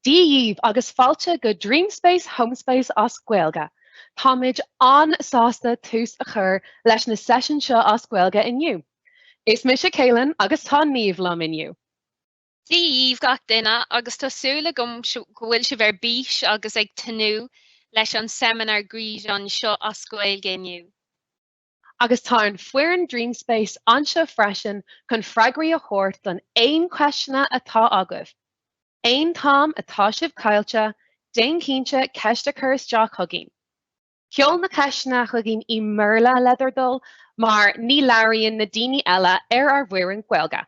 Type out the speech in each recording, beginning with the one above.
Dia dhíbh agus fáilte go Dreamspace Homespace as Gaeilge! Táimid an-sásta tús a chur leis na seisiúin seo as Gaeilge inniu. Is mise Caelan agus tá Niamh liom inniu. Dia dhíbh gach duine agus tá súil agam go bhfuil sibh ar bís agus ag tnúth leis an seminar gréasáin seo as Gaeilge inniu. Agus tá an foireann Dream Space anseo freisin chun freagraí a thabhairt don aon cheisteanna atá agaibh. Aon t-am atá sibh caillte, déan cinnte ceist a chur isteach chugainn. Seol na ceisteanna chugainn i mBéarla le do thoil, mar ní labhraíonn na daoine eile ar ár bhfoireann Gaeilge.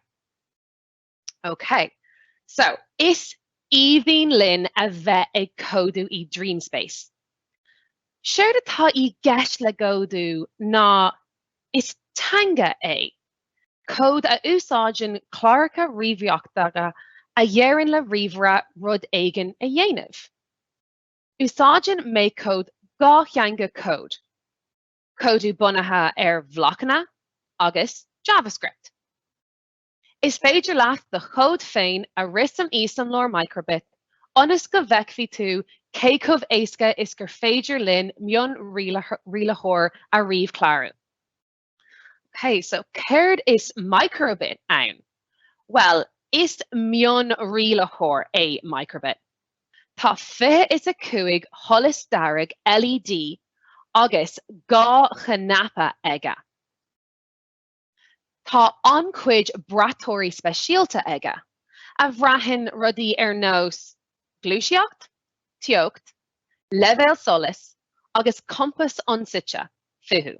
Ok, so, is aoibhinn linn a bheith ag códú i Dreamspace. Séard atá i gceist le gcódú ná, is teanga é cód a úsáideann cláracha ríomhaireachta a dheireann le ríomhaire rud éigin a dhéanamh. Úsáideann MakeCode dhá theanga cód, códú bunaithe ar bhlocanna, agus JavaScript. Is féidir leat do chód féin a rith san insamhlóir micro-bit, ionas go bhfeicfidh tú cé chomh éasca is gur féidir linn mion-rialaitheoir a ríomhchlárú. Ok, so céard is micro-bit ann? Bhuel, is mion-rialaitheoir é micro-bit. Tá fiche is a cúig sholas dearg LED agus dhá chnaipe aige. Tá an-chuid braiteoirí speisialta aige, a bhraitheann rudaí ar nós gluaiseacht, teocht, leibhéal solais agus compass ionsuite fiú.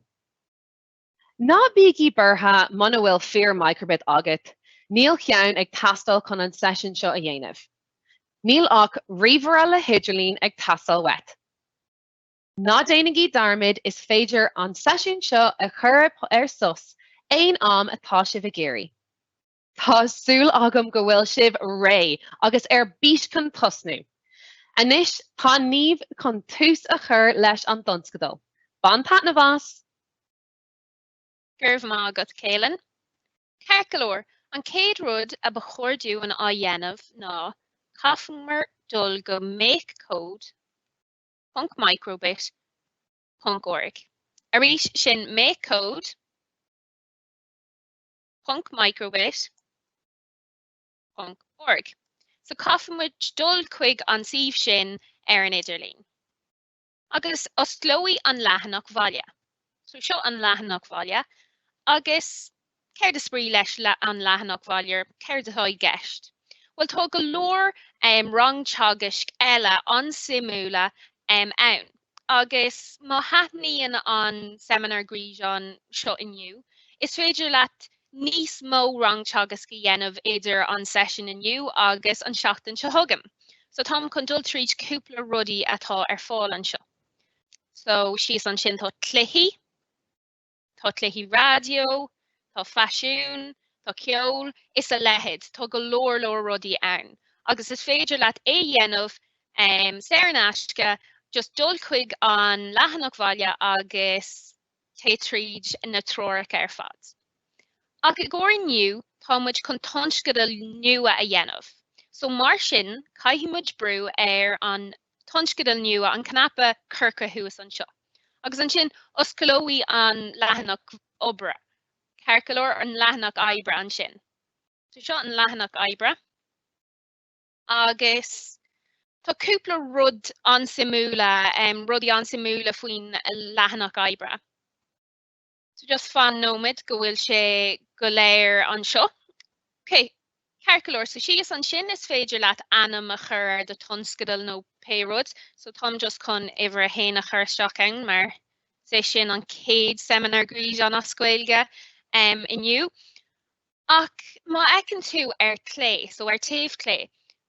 Ná bígí buartha muna bhfuil fíor microbit agat, níl cheann ag teastáil chun an seisiún seo a dhéanamh. Níl ach ríomhaire le hidirlíon ag teastáil uait. Ná déanaigí dearmad, is féidir an seisiún seo a chur ar sos aon am atá sibh ag iarraidh. Tá súil agam go bhfuil sibh réidh agus ar bís chun tosnú. Anois tá Niamh chun tús a chur leis an dtionscadal. Bain taitneamh as! Go raibh maith agat, Caelan. Ceart go leor, an céad rud a ba chóir dúinn á dhéanamh ná, caithfimid dul go make code, ponc micro-bit, ponc org. Arís, sin make code, ponc micro-bit, ponc org. So caithfidh muid dul chuig an suíomh sin ar an idirlíon. Agus osclóidh an leathanach bhaile. So seo an leathanach bhaile. Agus céard is brí leis an leathanach bhaile? Céard atá i gceist? Bhuel, tá go leor rang teagaisc eile an-suimiúla ann. Agus má thaitníonn an seimineár gréasáin seo inniu, is féidir leat níos mó rang teagaisc a dhéanamh idir an seisiún inniu agus an seachtain seo chugainn. So táim chun dul tríd cúpla rudaí atá ar fáil anseo. So síos ansin tá cluichí, tá cluichí raidió, tá faisiún, tá ceol, is a leithéid, tá go leor leor rudaí ann. Agus is féidir leat é dhéanamh saor in aisce, just dul chuig an leathanach bhaile agus téigh tríd na treoracha ar fad. Ach i gcomhair inniu tá muid chun tionscadal nua a dhéanamh. So mar sin caithfidh muid brú ar an tionscadal nua an cnaipe corcra thuas anseo, agus ansin osclóidh an leathanach oibre, ceart go leor, an leathanach oibre ansin. So seo an leathanach oibre, agus tá cúpla rud an-suimiúla, rudaí an-suimiúla faoin leathanach oibre. Just fan nóiméad go bhfuil sé go léir anseo. Ok, ceart go leor. So síos ansin is féidir leat ainm a chur ar do tionscadal nó pé rud. So táim just chun uimhir a haon a chur isteach ann mar is é sin an céad seimineár gréasáin as Gaeilge inniu. Ach má fheiceann tú ar clé, so ar taobh clé,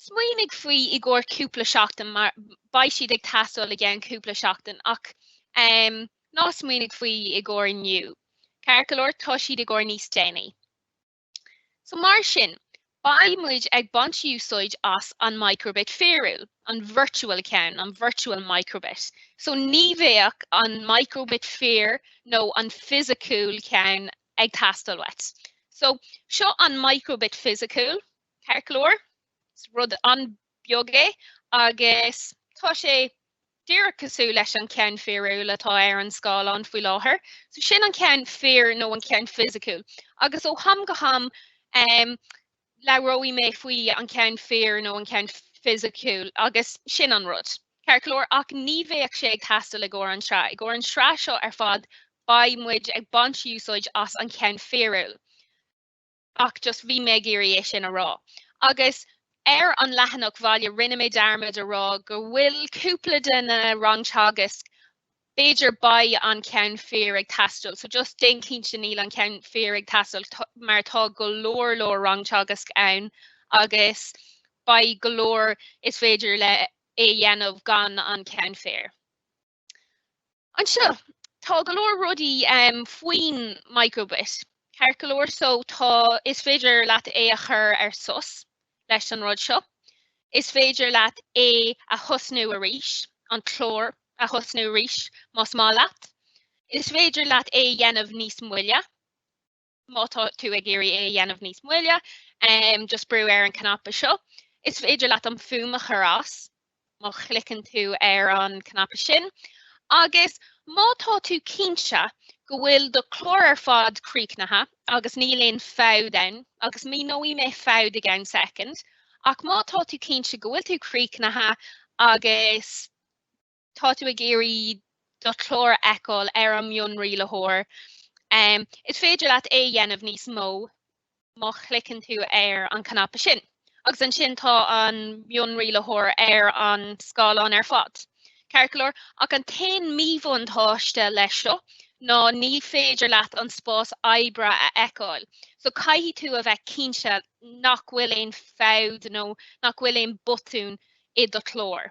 Smaoinigh faoi i gcomhair cúpla seachtain mar beidh siad ag teastáil i gceann cúpla seachtain ach em ná smaoinigh faoi i gcomhair inniu. Ceart go leor tá siad i gcomhair níos déanaí. So mar sin, beidh muid ag baint úsáid as an microbit fíorúil, an virtual ceann, an virtual microbit. So ní bheadh an microbit fíor nó an fisiciúil ceann ag teastáil uait. So seo an microbit fisiciúil. Ceart go leor, rud an-bheag é agus tá sé díreach cosúil leis an ceann fíorúil atá ar an scáileán faoi láthair. So sin an ceann fíor nó an ceann fisiciúil. Agus ó ham go ham labhróidh mé faoi an ceann fíor nó an ceann fisiciúil agus sin an rud. Ceart go leor, ach ní bheadh sé ag teastáil i gcomhair an tsraith. I gcomhair an tsraith seo ar fad beidh muid ag baint úsáid as an ceann fíorúil. Ach just, bhí mé ag iarraidh é sin a rá. Agus ar an leathanach bhaile, rinne mé dearmad a rá go bhfuil cúpla de na rang teagaisc, b'fhéidir, beidh an ceann fíor ag teastáil. So just déan cinnte níl an ceann fíor ag teastáil mar tá go leor leor rang teagaisc ann agus beidh go leor is féidir leat é dhéanamh gan an ceann fíor. Anseo, tá go leor rudaí faoin microbit, ceart go leor, so tá, is féidir leat é a chur ar sos leis an rud seo. Is féidir leat é a thosnú arís, an clár a thosnú arís, más maith leat. Is féidir leat é a dhéanamh níos moille. Má tá tú ag iarraidh é a dhéanamh níos moille, just brú ar an cnaipe seo. Is féidir leat an fhuaim a chur as má chliceann tú ar an cnaipe sin. Agus má tá tú cinnte go bhfuil do chlár ar fad críochnaithe agus níl aon fabht ann, agus míneoidh mé fabht i gceann soicind, ach má tá tú cinnte go bhfuil tú críochnaithe agus Tá tú ag iarraidh do chlár a fheiceáil ar an mionrialaitheoir. Is féidir leat é a dhéanamh níos mó má chliceann tú ar an cnaipe sin, agus ansin tá an mionrialaitheoir ar an scáileán ar fad. Ceart go leor, ach an t-aon míbhuntáiste leis seo ná ní féidir leat an spás oibre a fheiceáil, so caithfidh tú a bheith cinnte nach bhfuil aon fabht nó nach bhfuil aon botún i do chlár.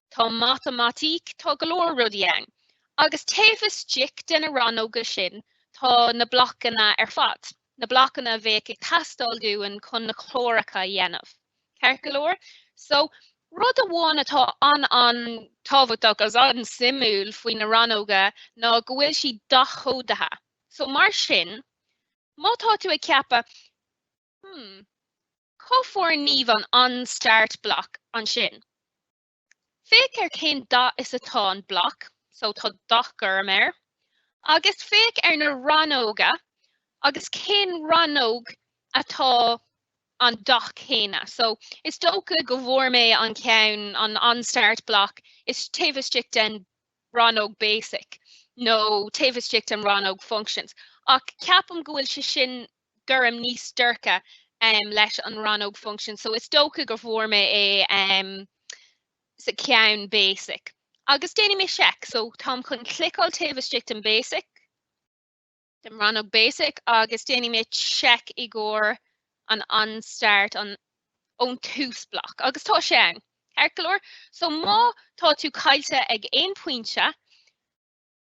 Tá matamaitic, tá go leor rudaí ann, agus taobh istigh de na rannóga sin tá na blocanna ar fad, na blocanna a bheadh ag teastáil dúinn chun na cláracha a dhéanamh, ceart go leor? So, rud amháin atá an-an-tábhachtach agus an-suimiúil faoi na rannóga ná go bhfuil siad dath-chódaithe. So, mar sin, má tá tú ag ceapadh, Hmm. Cá bhfuair Niamh an an start block ansin. Féach ar chén dath is atá an block, so tá dath gorm air. Agus féach ar na rannóga agus cén rannóg atá an dath céanna. So is dócha go bhfuair mé an ceann an an start block is taobh istigh den rannóg basic nó taobh istigh den rannóg functions. Ach ceapaim go bhfuil sé sin gorm níos dorcha leis an rannóg function. So is dócha go bhfuair mé é sa cheann basic. Agus déanfaidh mé seic. So táim chun cliceáil taobh istigh den basic, den rannóg basic, agus déanfaidh mé seic i gcomhair an onStart, an ón tús bloc. Agus tá sé ann, ceart go leor. So má tá tú caillte ag aon pointe,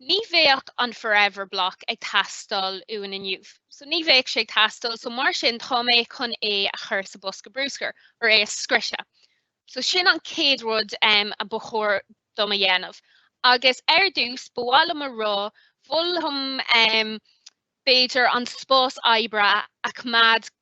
Ní bheidh an Forever Block ag teastáil uainn inniu. So, ní bheidh sé ag teastáil, so mar sin tá mé chun é a chur sa bosca bruscair, or é a scriosadh. So, sin an chéad rud a ba chóir dom a dhéanamh. Agus ar dtús, ba mhaith liom a rá, mholfainn b'fhéidir an spás oibre a choimeád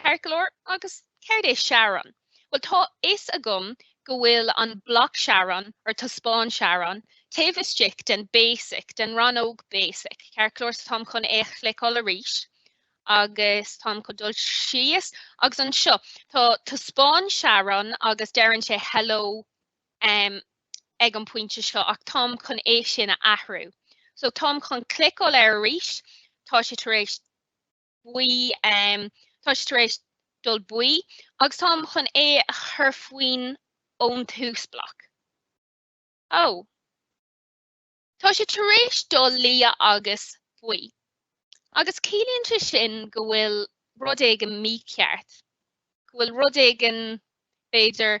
Ceart go leor, agus céard é teaghrán? Bhuel, tá fhios agam go bhfuil an bloc teaghrán, or taispeáin teaghrán, taobh istigh den basic, den rannóg basic, ceart go leor? So táim chun é a chliceáil arís, agus táim chun dul síos, agus anseo, tá taispeáin teaghrán, agus deireann sé hello um ag an bpointe seo, ach táim chun é sin a athrú. So táim chun cliceáil air arís, tá sé tar éis, buí, tá sé tar éis dul buí agus táim chun é a chur faoin ón tús bloc. Ó! Tá sé tar éis dul liath agus buí. Agus ciallaíonn sé sin go bhfuil rud éigin mícheart, go bhfuil rud éigin, b'fhéidir,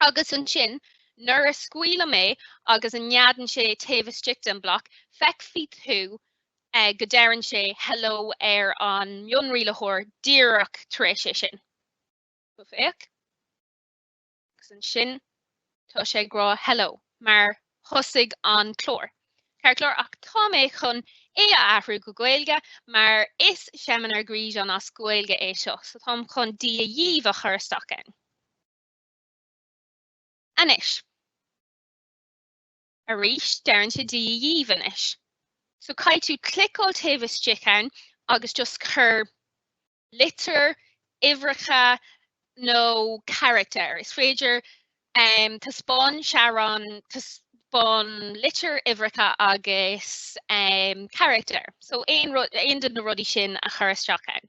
Agus ansin, nuair a scaoilim é agus a neadann sé taobh istigh den bhloc, feicfidh tú go deireann sé hello ar an mionrialaitheoir díreach tar éis é sin. Féach. Agus ansin, tá sé ag rá hello mar thosaigh an clár. Ceart go leor, ach tá mé chun é a athrú go Gaeilge mar is seimineár gréasáin as Gaeilge é seo, so táim chun Dia dhaoibh a chur isteach ann. Anois. Arís, deireann sé Dia dhaoibh anois. So caithfidh tú cliceáil taobh istigh ann agus just cur litir, uimhreacha nó carachtair. Is féidir ehm taispeáin teaghrán taispeáin litir, uimhreacha agus ehm carachtair. So aon de na rudaí sin a chur isteach ann.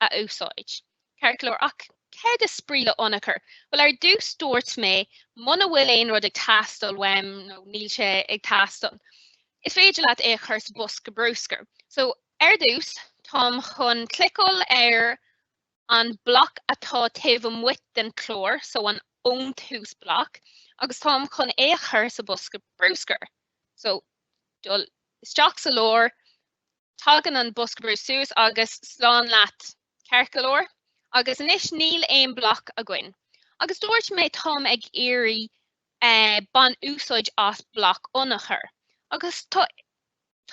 a úsáid. Ceart go leor, ach céard is brí le ionchur? Bhuel, ar dtús dúirt mé, muna bhfuil aon rud ag teastáil uaim, nó níl sé ag teastáil, is féidir leat é a chur sa bhosca bruscair. So, ar dtús, táim chun cliceáil ar an bloc atá taobh amuigh den chlár, so, an ón tús bloc, agus táim chun é a chur sa bhosca bruscair. So, dul isteach sa lár, Tagann an bosca bruscair suas agus slán leat ceart go leor agus anois níl aon bloc againn agus dúirt mé táim ag iarraidh bain úsáid as bloc ionchur agus tá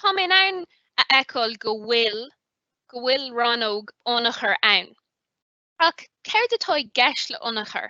tá mé in ann a fheiceáil go bhfuil go bhfuil rannóg ionchur ann ach céard atá i gceist le ionchur?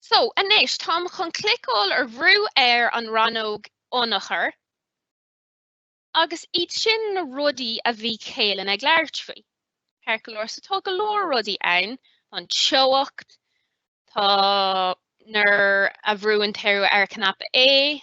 So, anois, táim chun cliceáil ar bhrú ar an rannóg Ionchuir, agus iad sin na rudaí a bhí Kaylin ag labhairt faoi, ceart go leor. So, tá go leor rudaí ann, tá an teocht, tá nuair a bhrúann tú ar cnaipe A,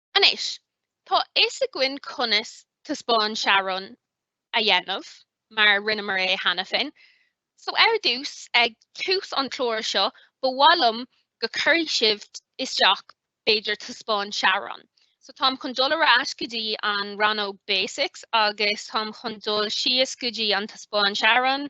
Anois, tá fhios againn conas taispeáin teaghrán a dhéanamh, mar rinneamar é cheana féin, so ar dtús, ag tús an clár seo, ba mhaith liom go cuirfidh sibh isteach b'fhéidir taispeáin teaghrán. So táim chun dul ar ais go dtí an rannóg Basics agus táim chun dul síos go dtí an taispeáin teaghrán,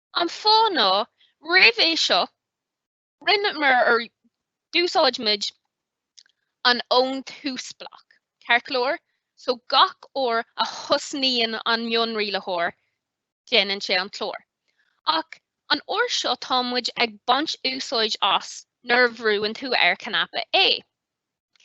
An fáth ná, roimh é seo, rinneamar, or d'úsáid muid, an ón tús bloc, ceart go leor, so gach uair a thosnaíonn an mionrialaitheoir, déanann sé an clár. Ach an uair seo tá muid ag baint úsáid as nuair a bhrúann tú ar cnaipe A,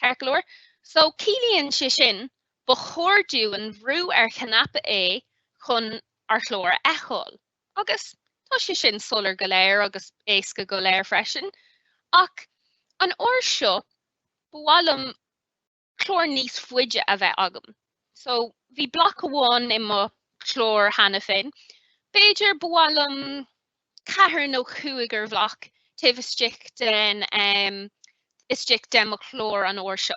ceart go leor, so ciallaíonn sé sin ba chóir dúinn bhrú ar chnaipe A chun ár chlár a fheiceáil. Agus tá sé sin soiléir go léir, agus éasca go léir freisin. Ach an uair seo, ba mhaith liom clár níos faide a bheith agam. So, bhí bloc amháin i mo chlár cheana féin. B'fhéidir, ba mhaith liom ceathair nó cúigear bhloc taobh istigh den, istigh de mo chlár an uair seo.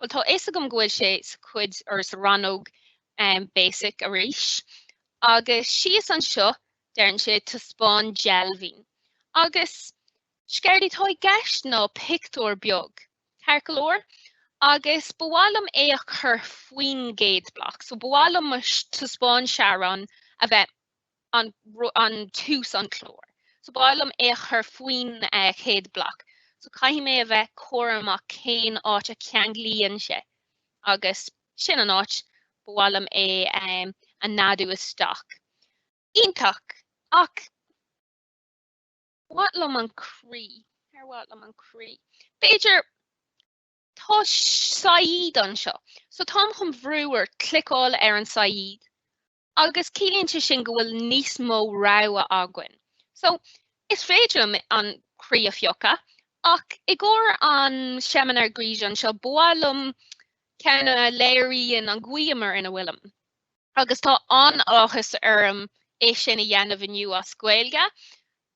Bhuel, tá a fhios agam go bhfuil sé sa chuid, or sa rannóg basic arís, agus síos anseo, deireann sé, taispeáin deilbhín. Agus, is céard atá i gceist ná pictiúr beag, ceart go leor, agus ba mhaith liom é a chur faoin gcéad bloc. So, ba mhaith liom mo taispeáin teaghrán a bheith ag an tús an clár so ba mhaith liom é a chur faoin chéad bloc so caithfidh mé a bheith cúramach cén áit a ceanglaíonn sé agus sin an áit ba mhaith liom é a neadú isteach. Iontach! Ach mhaith liom an croí. Ar mhaith liom an croí? B'fhéidir tá saighead anseo so táim chun bhrú or cliceáil ar an saighead Agus ciallaíonn sé sin go bhfuil níos mó rogha againn. So, is féidir liom an croí a phiocadh, ach i gcomhair an seimineár gréasáin seo, ba mhaith liom ceann a léiríonn an ghiúmar ina bhfuilim. Agus tá an-áthas orm é sin a dhéanamh inniu as Gaeilge.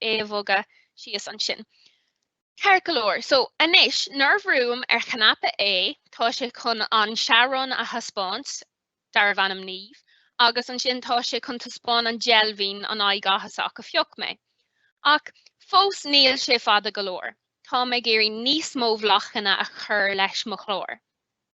é a bhogadh síos ansin. Ceart go leor, so anois, nuair a bhrúim ar chnaipe A, tá sé chun an searán a thaispeáint, darbh ainm Niamh, agus ansin tá sé chun taispeáin an deilbhín, an aghaidh áthasach a phioc mé. Ach fós níl sé fada go leor. Táim ag iarraidh níos mó blocanna a chur leis mo chlár.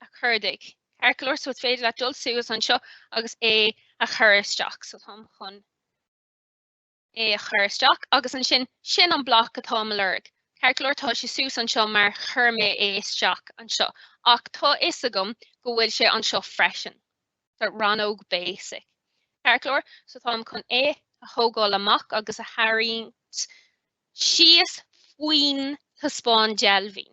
a chuardaigh. Ceart go leor so is féidir leat dul suas anseo agus é a chur isteach. So táim chun é a chur isteach agus ansin sin an bloc atá i mo lorg. Ceart go leor tá sé suas anseo mar chuir mé é isteach anseo ach tá fhios agam go bhfuil sé anseo freisin. So rannóg basic. Ceart go leor so táim chun é a thógáil amach agus a tharraingt síos faoin taispeáin deilbhín.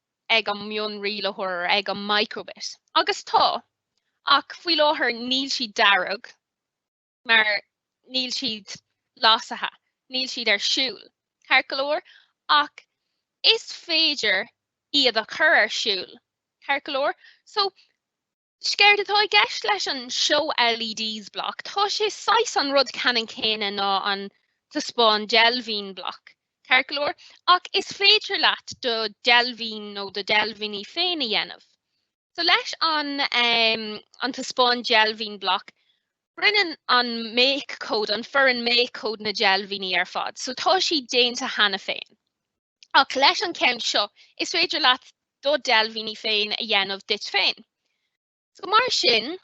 ag an mion-rialaitheoir, ag an micro-bit. Agus tá. Ach faoi láthair níl siad dearg mar níl siad lasaithe, níl siad ar siúl, ceart go leor? Ach is féidir iad a chur ar siúl, ceart go leor? So, Séard atá i gceist leis an Show LEDs Block, tá sé saghas an rud ceannann céanna ná an Taispeáin Deilbhín Block, ceart go leor, ach is féidir leat do deilbhín nó do deilbhíní féin a dhéanamh. So leis an ehm an Taispeáin Deilbhín Block, rinneann an make code, an foireann make code na deilbhíní ar fad, so tá siad déanta cheana féin. Ach leis an ceann seo, is féidir leat do deilbhíní féin a dhéanamh duit féin. So mar sin,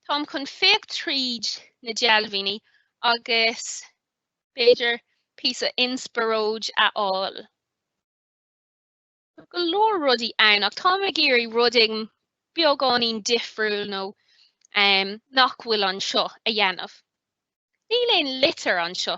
táim chun féach tríd na deilbhíní agus b'fhéidir píosa inspioróid a fháil. Go leor rudaí ann, ach táim ag iarraidh rud éigin beagáinín difriúil nó um, nach bhfuil anseo a dhéanamh. Níl aon litir anseo.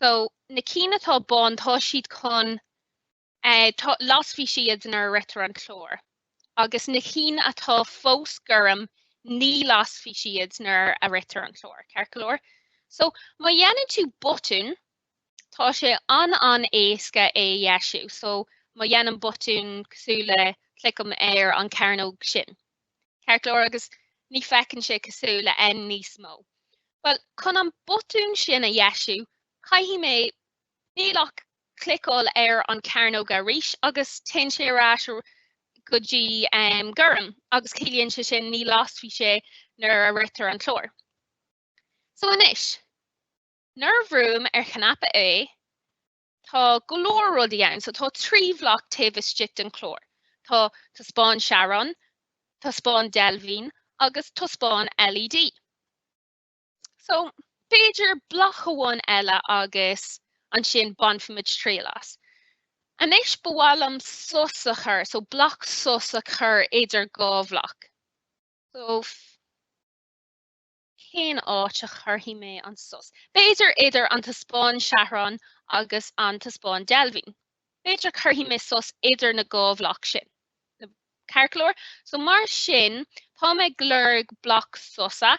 So, na cinn atá bán, tá siad chun, lasfaidh siad nuair a ritear an clár. Agus na cinn atá fós gorm, ní lasfaidh siad nuair a ritear an clár, ceart go leor? So, má dhéanann tú botún, tá sé an-an-éasca é a dheisiú. So, má dhéanaim botún cosúil le, cliceam ar an chearnóg sin, ceart go leor agus ní fheiceann sé cosúil le N níos mó. Bhuel, chun an botún sin a dheisiú, caithfidh mé, níl ach cliceáil ar an cearnóg arís agus téann sé ar ais go dtí gorm agus ciallaíonn sé sin ní lasfaidh sé nuair a ritear an clár. So anois, nuair a bhrúim ar chnaipe A, Tá go leor rudaí ann. So tá trí bhloc taobh istigh den chlár. Tá taispeáin teaghrán, taispeáin deilbhín agus taispeáin LED. So b'fhéidir bloc amháin eile agus ansin bainfimid triail as. Anois ba mhaith liom sos a chur, so bloc sos a chur idir dhá bhloc. So Cén áit a chuirfidh mé an sos? B'fhéidir idir an taispeáin teaghrán agus an taispeáin deilbhín. B'fhéidir cuirfidh mé sos idir na dhá bhloc sin. Now, ceart go leor. So mar sin, táim ag lorg bloc sosa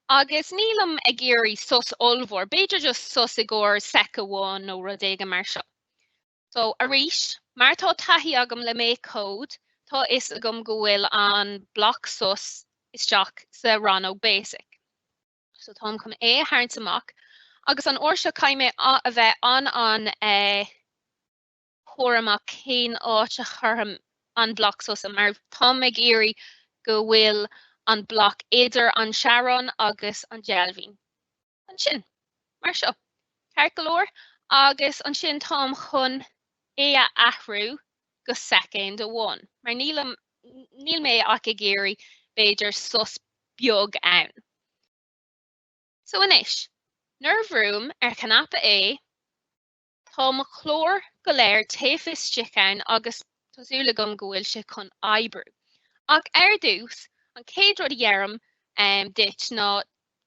agus nílim ag iarraidh sos ollmhór, b'fhéidir just sos i gcomhair sec amháin nó rud éigin mar seo. So, arís, mar tá taithí agam le MakeCode, tá a fhios agam go bhfuil an bloc sos isteach sa rannóg basic. So, táim chun é a tharraingt amach, agus an uair seo caithfidh mé a bheith an-an eh cúramach cén áit a chuirfidh mé an bloc sosa, mar táim ag iarraidh go bhfuil an bloc idir an teaghrán agus an deilbhín. Ansin, mar seo. Ceart go leor, agus ansin táim chun é a athrú go soicéand amháin, mar níl mé ach ag iarraidh, b'fhéidir, sos beag ann. So anois, nuair a bhrúim ar chnaipe A, Tá mo chlár go léir taobh istigh ann agus tá súil agam go bhfuil sé chun oibriú. Ach ar dtús, an chéad rud a dheirim um, duit ná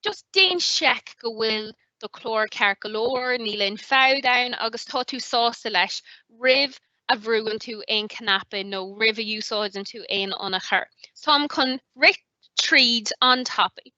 just déan seic go bhfuil do chlár ceart go leor, níl aon fabht ann agus tá tú sásta leis roimh a bhrúann tú aon cnaipe nó roimh a úsáideann tú aon ionchur. Táim chun rith tríd an-tapaidh.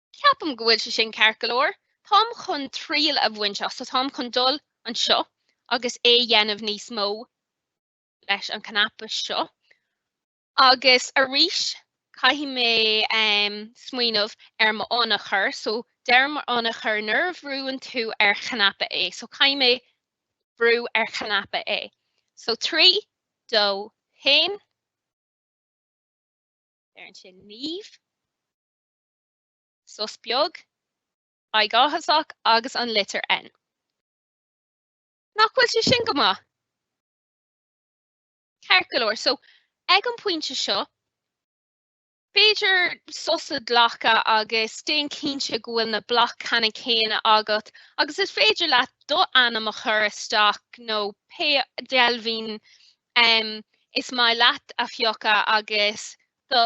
Ceapaim go bhfuil sé sin ceart go leor. Táim chun triail a bhaint as, so táim chun dul anseo agus é dhéanamh níos mó leis an cnaipe seo. Agus arís, caithfidh mé um smaoineamh ar mo ionchur, so deir mo ionchur nuair a bhrúann tú ar chnaipe A, so caithfidh mé brú ar chnaipe A. So trí, dó, haon. Deireann sé Niamh. sos beag, aghaidh áthasach agus an litir N. Nach bhfuil sé sin go maith? Ceart go leor, so ag an pointe seo, B'fhéidir sos a ghlacadh agus déan cinnte go bhfuil na blocanna céanna agat agus is féidir leat do ainm a chur isteach nó pé deilbhín um, is maith leat a phiocadh agus do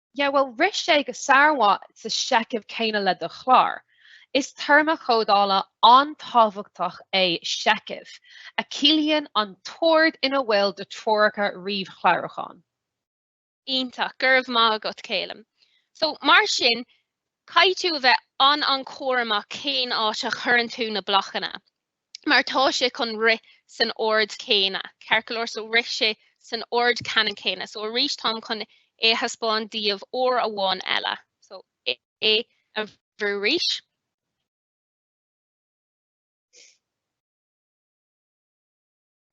Yeah, well, rith sé go sármhaith sa seicheamh céanna le do chlár. Is téarma códála an-tábhachtach é seicheamh, a chiallaíonn an t-ord ina bhfuil do treoracha ríomhchlárúcháin. Iontach, go raibh maith agat Calum. So, mar sin, caithfidh tú a bheith an-an-chúramach cén áit a chuireann tú na blocanna. mar tá sé chun rith san ord céanna, ceart go leor, so rith sé san ord ceannann céanna, so arís táim chun é a thaispeáin daoibh uair amháin eile, so A a bhrú arís.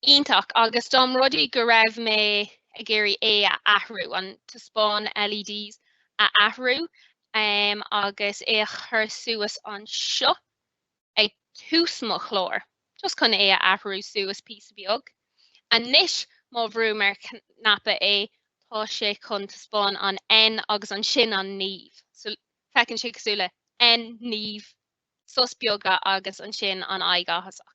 Iontach, agus dá mba rud é go raibh mé ag iarraidh é a athrú, an taispeáin LEDs a athrú agus é a chur suas anseo ag tús mo chláir, just chun é a athrú suas píosa beag. Anois má bhrúim ar chnaipe A, tá sé chun taispeáin an N agus ansin an Niamh. So feiceann sé cosúil le N, Niamh, sos beag agus ansin an aghaidh áthasach.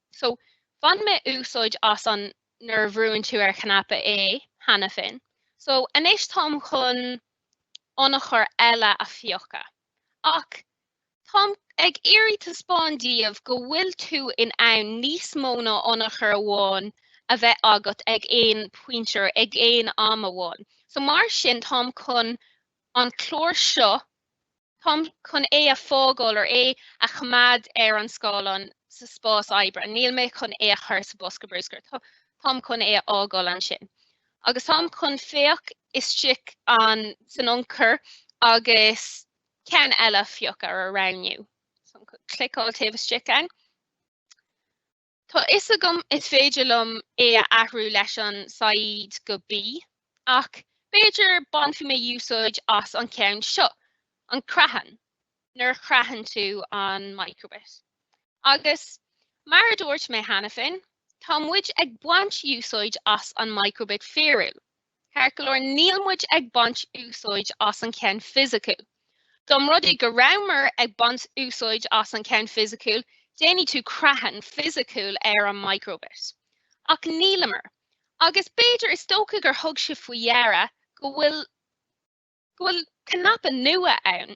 So, bhain mé úsáid as an nuair a bhrúnn tú ar chnaipe A cheana féin. So, anois táim chun ionchur eile a phiocadh. Ach, táim ag iarraidh taispeáin daoibh go bhfuil tú in ann níos mó ná ionchur amháin a bheith agat ag aon pointe or ag aon am amháin. So, mar sin, táim chun an clár seo, táim chun é a fhágáil or é a choimeád ar an scáileán sa spás oibre, níl mé chun é a chur sa bosca brúscair, táim chun é a fhágáil ansin. Agus táim chun féach istigh ann san ionchur agus ceann eile a phiocadh or a roghnú. So, cliceáil taobh istigh ann. Tá fhios agam is féidir liom é a athrú leis an saighid go B, ach b'fhéidir bainfidh mé úsáid as an ceann seo, an creathadh, nuair a chreathann tú an microbit. Agus, mar a dúirt mé cheana féin, tá muid ag baint úsáid as an microbit fíorúil, Ceart go leor, níl muid ag baint úsáid as an cheann fisiciúil. Dá mba rud é go rabhamar ag baint úsáid as an cheann fisiciúil, déanfaidh tú creathadh fisiciúil ar an microbit. Ach níleamar. Agus b'fhéidir, is dócha gur thug sibh faoi deara go bhfuil go bhfuil cnaipe nua ann.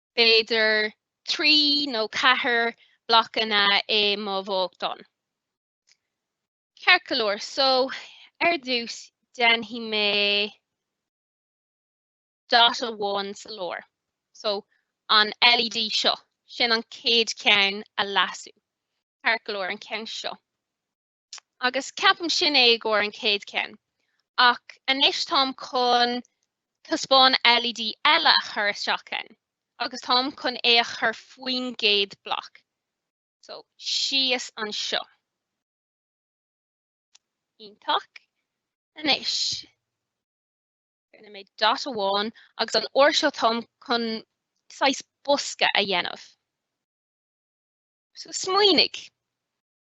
b'fhéidir trí nó ceithre blocanna i mo bheochan. Ceart go leor, so ar dtús déanfaidh mé dot amháin sa lár. So an LED seo, sin an céad ceann a lasadh. Ceart go leor an ceann seo. agus ceapaim sin é i gcóir an chéad ceann. Ach anois táim chun taispeáin LED eile a chur isteach ann, agus táim chun é a chur faoin gcéad bloc. So síos anseo. Iontach. Anois. Rinne mé dot amháin agus an uair seo táim chun saghas bosca a dhéanamh. So smaoinigh.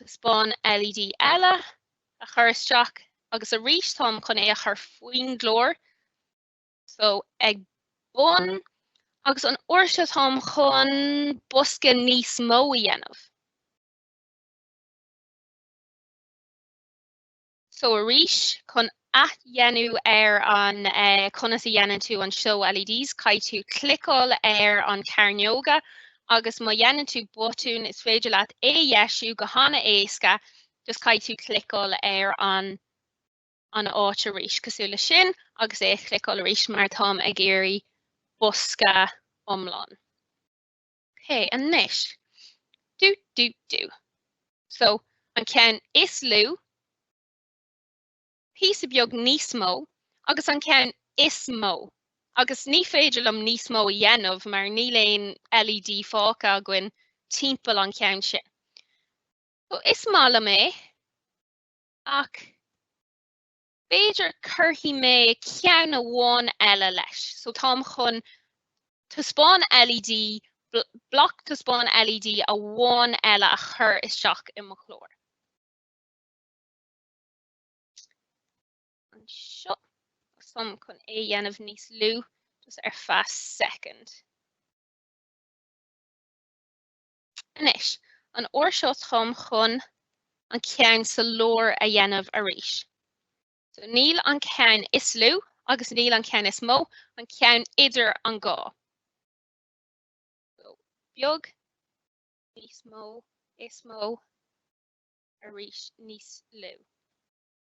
Taispeáin LED eile a chur isteach agus arís táim chun é a chur faoin gclár so ag bun agus an uair seo táim chun bosca níos mó a dhéanamh. So arís chun athdhéanamh ar an conas a dhéanann tú an show LEDs, caithfidh tú cliceáil ar an cearnóga agus má dhéanann tú botún is féidir leat é a dheisiú go han-éasca just caithfidh tú cliceáil ar an an áit arís cosúil leis sin agus é a chliceáil arís mar táim ag iarraidh bosca iomlán. OK, anois, do, do, do. So, an ceann is lú, píosa beag níos mó, agus an ceann is mó. Agus ní féidir liom níos mó a dhéanamh mar níl aon LED fágtha againn timpeall an cheann sin. So, is maith liom é, ach B'fhéidir cuirfidh mé ceann amháin eile leis. So táim chun taispeáin LED, bloc taispeáin LED amháin eile a chur isteach i mo chlár. Anseo, táim chun é dhéanamh níos lú, just ar feadh second. Anois, an uair seo táim chun an ceann sa lár a dhéanamh arís. So níl an ceann is lú agus níl an ceann is mó, an ceann idir an dhá. So beag, níos mó, is mó, arís, níos lú.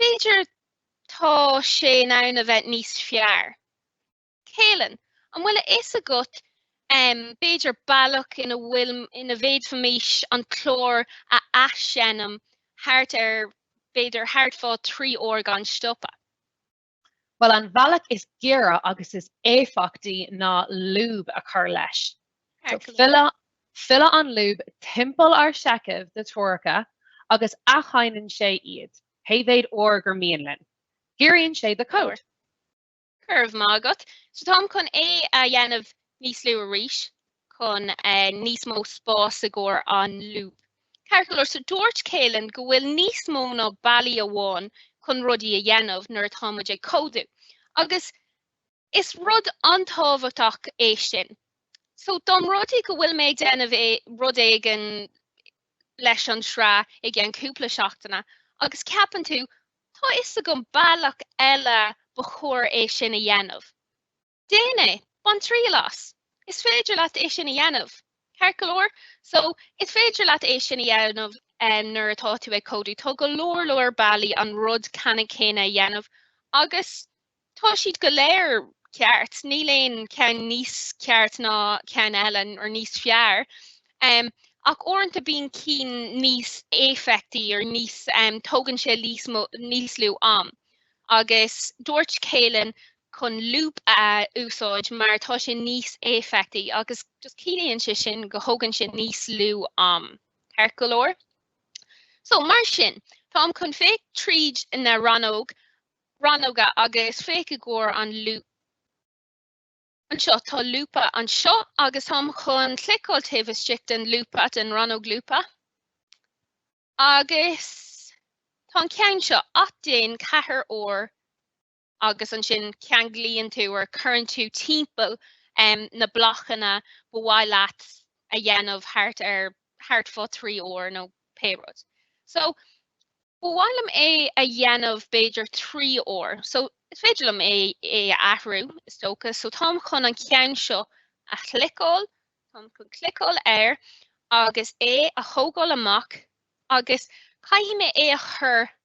B'fhéidir tá sé in ann a bheith níos fearr. Caelan, an bhfuil a fhios agat b'fhéidir bealach ina bhfuil, ina bhféadfaimis an clár a athsheinm thart ar, b'fhéidir thart fá trí uair gan stopadh? Bhuel, an bhealach is giorra agus is éifeachtaí ná lúb a chur leis. So filleann an lúb timpeall ár seicheamh de threoracha agus athsheinneann sé iad, pé mhéid uair is mian linn. Giorraíonn sé do chód. Go raibh maith agat. So táim chun é a dhéanamh níos lú arís. chun níos mó spás i gcomhair an lúb, ceart go leor. So dúirt Kalin go bhfuil níos mó ná bealach amháin chun rudaí a dhéanamh nuair atá muid ag códú agus is rud an-tábhachtach é sin. So más rud é go bhfuil mé ag déanamh rud éigin leis an tsraith i gceann cúpla seachtaine agus ceapann tú, 'tá fhios agam bealach eile ba chóir é sin a dhéanamh'. Déan é! Bain triail as! Is féidir leat é sin a dhéanamh, ceart go leor? So, is féidir leat é sin a dhéanamh nuair atá tú ag códú. Tá go leor leor bealaí an rud ceanann céanna a dhéanamh agus tá siad go léir ceart. Níl aon cheann níos ceart ná ceann eile or níos fearr. Ach uaireanta bíonn cinn níos éifeachtaí or níos, tógann sé níos lú am. Agus dúirt Kalin chun lúb a úsáid mar tá sé níos éifeachtaí agus just ciallaíonn sé sin go thógann sé níos lú am, ceart go leor. So, mar sin, táim chun féach tríd na rannóg, rannóga agus féach i gcomhair an lúb. Anseo tá lúba anseo agus táim chun cliceáil taobh istigh den lúba, den rannóg lúba, agus tá an ceann seo, athdhéan ceathair uair agus ansin ceanglaíonn tú or cuireann tú timpeall na blocanna ba mhaith leat a dhéanamh thart ar thart fá trí uair nó pé rud. So ba mhaith liom é a dhéanamh b'fhéidir trí uair, so is féidir liom é é a athrú is dócha, so táim chun an ceann seo a chliceáil, táim chun cliceáil air agus é a thógáil amach agus caithfidh mé é a chur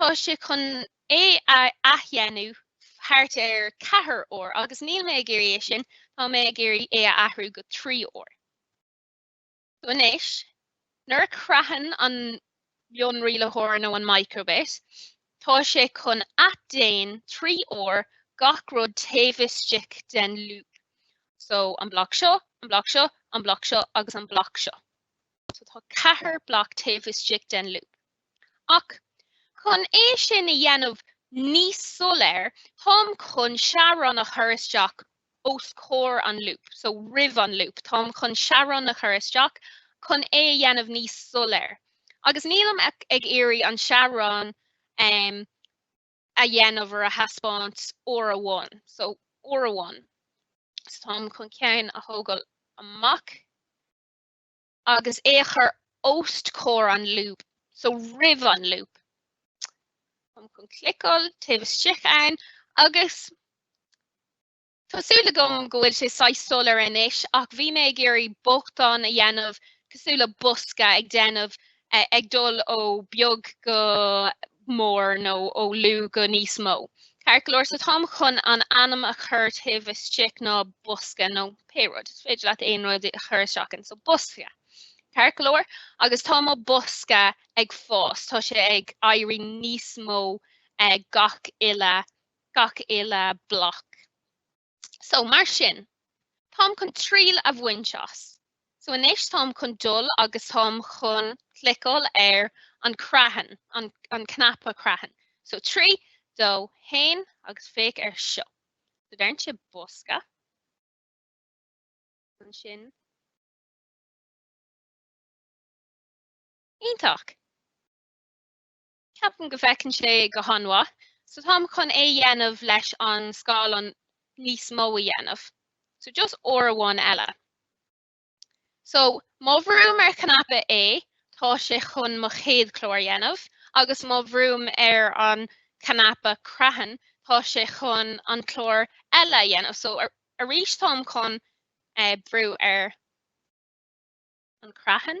Tá sé chun é a athdhéanamh thart ar thart ceathair uair agus níl mé ag iarraidh é sin, tá mé ag iarraidh é a athrú go trí uair. So anois, nuair a chreathann an mionrialaitheoir nó an microbit, tá sé chun athdhéan trí uair gach rud taobh istigh den lúb. So an bloc seo, an bloc seo, an bloc seo agus an bloc seo. so tá ceathair bloc taobh istigh den loop. Ach chun é sin a dhéanamh níos soiléir, táim chun teaghrán a chur isteach os comhair an loop, so roimh an loop, táim chun teaghrán a chur isteach chun é a dhéanamh níos soiléir. Agus nílim ag iarraidh an teaghrán um a dhéanamh or a thaispeáint uair amháin, so uair amháin. So táim chun ceann a thógáil amach. agus é a chur os comhair an lúb, so roimh an lúb. Táim chun cliceáil taobh istigh ann agus Tá súil agam go bhfuil sé saghas soiléir anois ach bhí mé ag iarraidh beochan a dhéanamh cosúil le bosca ag déanamh ag dul ó beag go mór nó ó lú go níos mó, ceart go leor so táim chun an ainm a chur taobh istigh ná bosca nó pé rud, is féidir leat aon rud a chur isteach ann, so bosca, ceart go leor, agus tá mo bosca ag fás, tá sé ag éirí níos mó gach uile, gach uile bloc. So, mar sin, táim chun triail a bhaint as. So anois táim chun dul agus táim chun cliceáil ar an creathán, an, an cnaipe creathán. So trí, dó, haon agus féach ar seo. So deireann sé bosca. Ansin Iontach. Ceapaim go bhfeiceann sé go han-mhaith, so táim chun é dhéanamh leis an scáileán níos mó a dhéanamh. So just uair amháin eile. So má bhrúim ar chnaipe A, tá sé chun mo chéad chlár dhéanamh, agus má bhrúim ar an chnaipe creathán, tá sé chun an clár eile dhéanamh. So arís táim chun brú ar an creathán.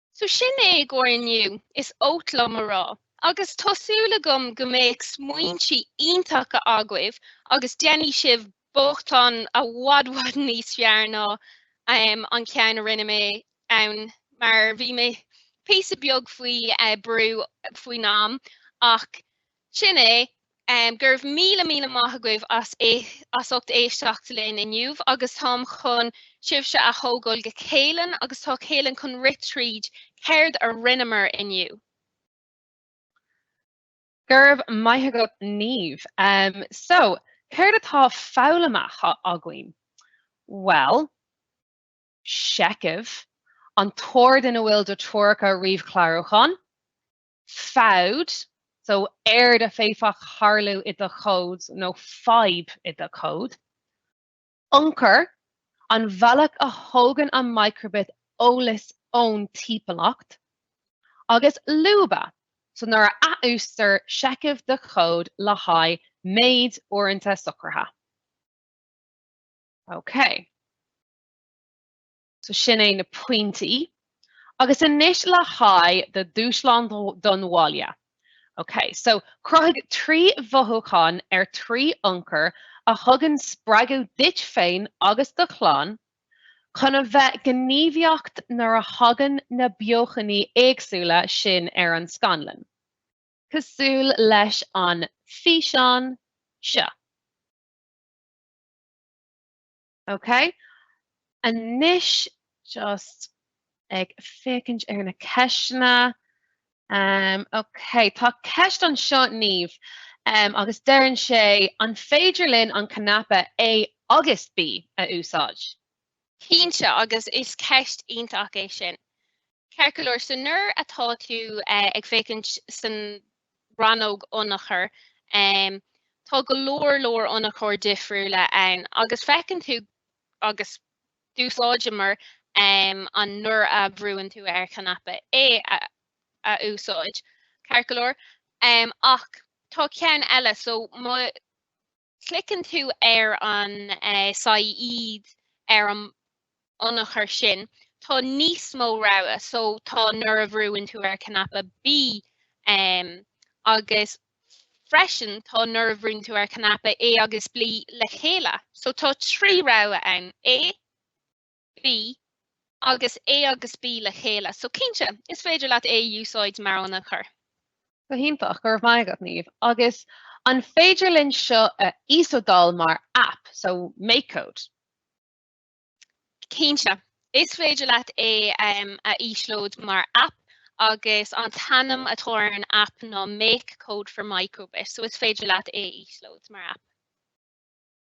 So sin é i gcomhair inniu, is oth liom a rá, agus tá súil agam go mbeidh smaointe iontacha agaibh agus déanfaidh sibh beochain i bhfad bhfad níos fearr ná an ceann a rinne mé ann mar bhí mé píosa beag faoi brú faoin am ach Sin é. Go raibh míle míle maith agaibh as ucht éisteacht linn inniu agus táim chun sibhse a thógáil go Caoileann agus tá Caoileann chun rith tríd céard a rinneamar inniu. Go raibh maith agat Niamh. So, céard atá foghlamtha againn? Bhuel, seicheamh, an t-ord ina bhfuil do treoracha ríomhchlárúcháin. Fabht, so earráid a d'fhéadfadh tharlú i do chód, nó fadhb i do chód. Ionchur, an bhealach a thógann an micro:bit eolas ón timpeallacht. Agus lúba, so nuair a athúsáidtear seicheamh de chód le haghaidh méid uaireanta socraithe. Okay. So sin é na pointí. Agus anois le haghaidh do dúshlán don bhaile. Ok, so cruthaigh trí mhothúchán ar trí ionchur a thugann spreagadh duit féin agus do chlann chun a bheith gníomhaíocht nuair a thagann na beochainí éagsúla sin ar an scáileán, cosúil leis an físeán seo. Ok. Anois just ag féachaint ar na ceisteanna. Em ok tá ceist anseo Niamh em agus deireann sé an féidir linn an cnaipe A agus B a úsáid? Cinnte, agus is ceist iontach é sin. Ceart go leor, so nuair atá tú ag féachaint san rannóg ionchuir, tá go leor leor ionchuir difriúla ann agus feiceann tú agus d'úsáideamar an nuair a bhrúann tú ar chnaipe A a úsáid, ceart go leor, ach tá ceann eile, so má. Cliceann tú ar an saighead ar an ionchur sin, tá níos mó rogha so tá nuair a bhrúann tú ar cnaipe B agus freisin tá nuair a bhrúnn tú ar cnaipe A agus B le chéile. So tá trí rogha ann, A, B, Agus A agus B le chéile. So cinnte, is féidir leat é a úsáid mar ionchur. Go hiontach, go raibh maith agat, Niamh. Agus an féidir linn seo a íoslódáil mar app, so MakeCode? Cinnte. Is féidir leat é a íoslóid mar app agus an t-ainm atá ar an app ná MakeCode for micro:bit, so is féidir leat é a íoslóid mar app.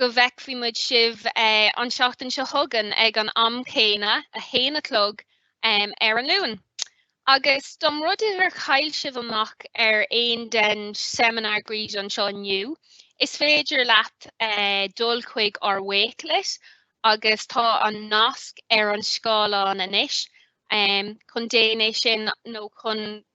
go bhfeicfidh muid sibh an seachtain seo chugainn ag an am céanna, a haon a chlog, ar an Luan. Agus dá mba rud é gur chaill sibh amach ar aon den seimineár gréasáin anseo inniu, is féidir leat dul chuig ár Wakelet, agus tá an nasc ar an scáileán anois, chun déan é sin nó chun.